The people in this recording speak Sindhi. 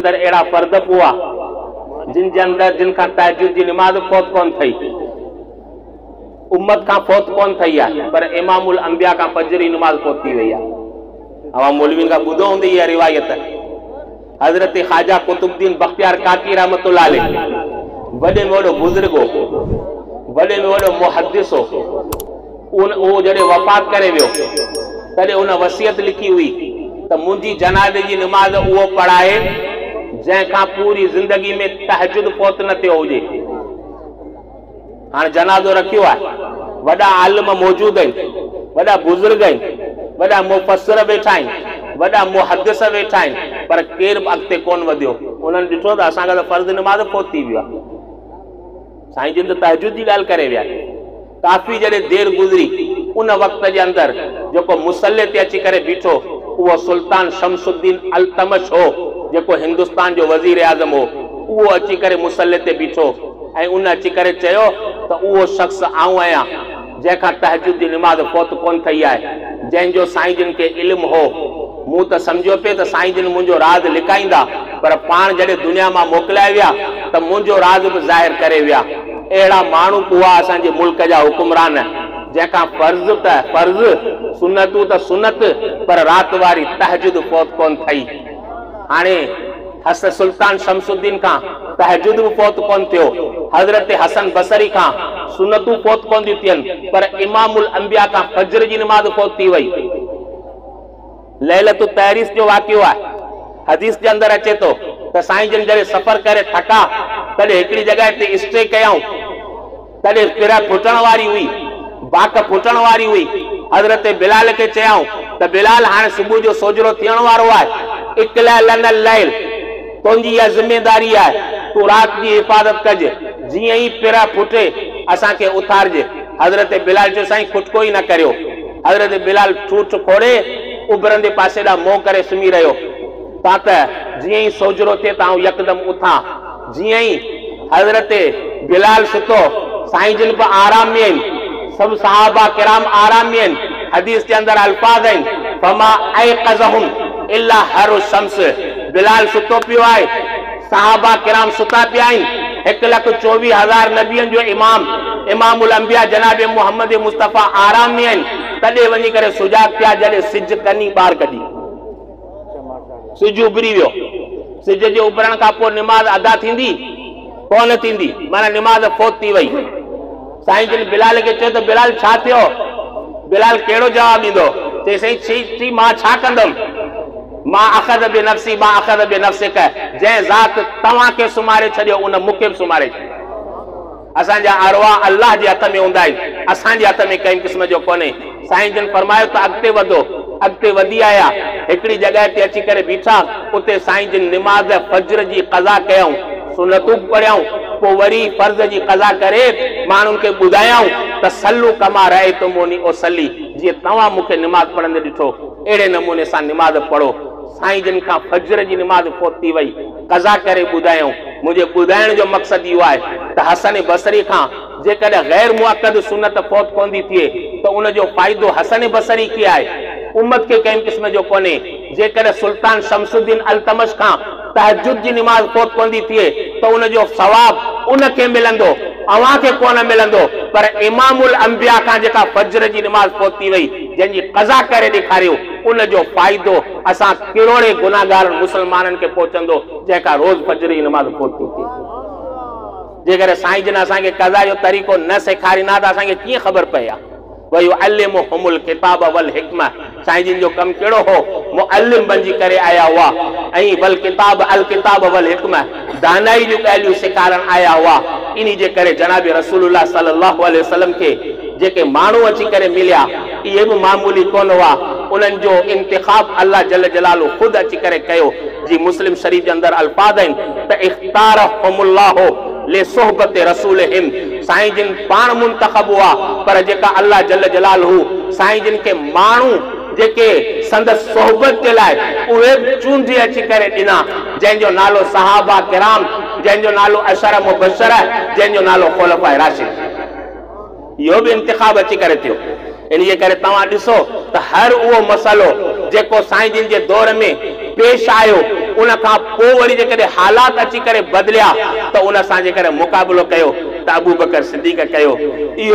اندر اهڙا فرد به هئا، جن جي اندر جن کان تهجد جي نماز به فوت ڪونه ٿئي، امت کان فوت ڪونه ٿئي آهي، پر امام الانبياء کان فجر جي نماز فوت ٿي وئي آهي. اوهان مولوين کان ٻڌو هوندو اها روايت، حضرت خواجه قطب الدين بختيار ڪاڪي رحمة الله عليه وڏي ۾ وڏو بزرگ هو، وڏي ۾ وڏو محدث هو. هو جڏهن وفات ڪري ويو تڏهن هن وصيت لکي هئي ته منهنجي جنازي جي نماز اهو پڙهائي جنهن کان پوري زندگي ۾ تهجد فوت نه ٿيو هجي. هاڻ جنازو رکيو آهي، وڏا عالم موجود آهن، وڏا بزرگ آهن، وڏا مفسر ويٺا آهن، وڏا محدث ويٺا آهن پر ڪير به اڳتي ڪونه وڌيو، انهن ڏٺو ته اسان کان ته فرض نماز فوت ٿي ويو آهي. سائين جن ته تهجد جي ڳالهه ڪري ويا. ڪافي جڏهن دير گذري، ان وقت جي اندر جيڪو مصلي تي اچي ڪري بيٺو، اهو سلطان شمس الدين التمش هو، جيڪو هندستان جو وزيراعظم هو. اهو اچي ڪري مصلي تي بيٺو ۽ ان اچي ڪري چيو ته اهو شخص آئون آهيان، جنهن کان تهجد جي نماز فوت ڪونه ٿئي آهي، جنهن جو سائين جن کي علم هو. مون ته سمجهيو پئي ته سائين جن منهنجو راز لڪائيندا، پر پاڻ جڏهن دنيا مان موڪلائي ويا ته منهنجو راز به ظاهر ڪري ويا. اهڙا ماڻهو ڪوئا اسان جي ملڪ جا حڪمران جنهن کان فرض ته فرض سنتون ته سنت پر رات واري تهجد فوت ڪونه ٿئي هاڻي حس سلطان شمس الدين کان تهجد به فوت ڪونه ٿيو حضرت حسن بصري کان سنتون فوت ڪونه ٿيون ٿين پر امام الانبياء کان فجر جي نماز فوت ٿي وئي ليلة التعريس جو واقعو آهي. حديث جي اندر اچي ٿو ته سائين جن جڏهن سفر ڪري ٿڪا تڏهن هڪڙي جڳهه تي اسٽي ڪيائون تڏهن پرهه ڦٽڻ واري هئي، باک ڦٽڻ واري هئي، حضرت بلال کي چيائون ته بلال هاڻي صبح جو سوجهرو ٿيڻ وارو آهي، اقلع لنا الليل تنهنجي اها ذميداري آهي تون رات جي حفاظت ڪج جيئن ئي پرهه ڦٽي اسان کي اٿارجي. حضرت بلال چيو سائين کٽڪو ئي نه ڪريو. حضرت بلال ٺوٺ کوڙي اڀرندي پاسي ڏانهن منهن ڪري سمهي رهيو. تانته جيئن ئي سوجهرو ٿئي ته آئون يڪدم اٿان. جيئن ئي حضرت بلال ستو، سائين جن به آرام ۾ آهن، سڀ صحابه ڪرام آرام ۾ آهن، حديث جي اندر الفاظ آهن، فما ايقظهم الا حر الشمس، بلال ستو پيو آهي، صحابه ڪرام ستا پيا آهن، هڪ لک چوويهه هزار نبين جو امام، امام الانبياء جناب محمد مصطفيٰ آرام ۾ آهن، تڏهن وڃي ڪري سجاڳ ٿيا جڏهن سج ڪني ٻار ڪڍي. سج اڀري ويو. سج جي اڀرڻ کان پوء نماز ادا ٿيندي؟ ڪونه ٿيندي، معنيٰ نماز فوت ٿي وئي. سائين جن بلال کي چيو ته بلال ڇا ٿيو؟ بلال ڪهڙو جواب ڏيندو؟ چيائين سائين ڇي ڇي مان ڇا ڪندم؟ ما اخذ بنفسي ما اخذ بنفسک جنهن ذات توهان کي سمهاري ڇڏيو ان مون کي به سمهاري ڇڏيو آهي. اسان جا ارواح الله جي هٿ ۾ هوندا آهن اسان جي هٿ ۾ ڪنهن قسم جو ڪونهي. سائين جن فرمايو ته اڳتي وڌو. اڳتي وڌي آيا. هڪڙي جڳهه تي اچي ڪري بيٺا. اتي سائين جن نماز فجر جي قضا ڪيائون. سنتون به پڙهيائون. پوء وري فرض جي قضا ڪري ماڻهن کي ٻڌايائون ته صلو ڪما رايتموني اصلي جيئن توهان مون کي نماز پڙهندي ڏٺو. اهڙي نموني سان نماز پڙهو. سائين جن کان فجر جي نماز فوت ٿي وئي، قضا ڪري ٻڌايائون. منهنجي ٻڌائڻ جو مقصد اهو آهي ته حسن بصري کان جيڪڏهن غير مؤڪد سنت فوت ڪوندي ٿئي ته ان جو فائدو حسن بصري کي آهي، امت کي ڪنهن قسم جو ڪونهي. جيڪڏهن سلطان شمس الدين التمش کان. تهجد جي نماز فوت ڪندي ٿئي ته ان جو ثواب ان کي ملندو، اوهان کي ڪونه ملندو، پر امام الانبياء کان جيڪا فجر جي نماز فوت ٿي وئي، جنهن جي قضا ڪري ڏيکاريو، ان جو فائدو اسان ڪروڙين گنهگارن مسلمانن کي پهچندو، جنهن کان روز فجر جي نماز فوت ٿي ٿئي. جيڪڏهن سائين جن اسان کي قضا جو طريقو نه سيکاريندا ته اسان کي ڪيئن خبر پئي ها؟ ويعلمهم الڪتاب والحڪمة سائين جن جو ڪم ڪهڙو هو معلم بنجي ڪري آيا هئا ۽ والڪتاب الڪتاب والحڪمة دانائي جون ڳالهيون سيکارڻ آيا هئا انهي جي ڪري جناب رسول الله صلي الله عليه وسلم کي جيڪي ماڻهو اچي ڪري مليا اهي به معمولي ڪونه هئا انهن جو انتخاب الله جل جلاله خود اچي ڪري ڪيو جي مسلم شريف جي اندر الفاظ آهن ته اختارهم الله لصحبت رسولهم سائين جن پاڻ منتخب هئا پر جيڪا الله جل جلاله سائين جن کي ماڻهو جيڪي سندس صحبت جي لاء اهي به چونڊي اچي ڪري ڏنا جنهن جو نالو صحابه ڪرام جنهن جو نالو عشره مبشره جنهن جو نالو خلفاء راشدين. اهو به انتخاب اچي ڪري ٿيو. انهيء ڪري توهان ڏسو ته هر اهو مسئلو جيڪو سائين جن جي دور ۾ پيش آيو، ان کان پوء وري جيڪڏهن حالات اچي ڪري بدليا ته ان سان جيڪڏهن مقابلو ڪيو ته ابوبڪر صديق ڪيو. اهو.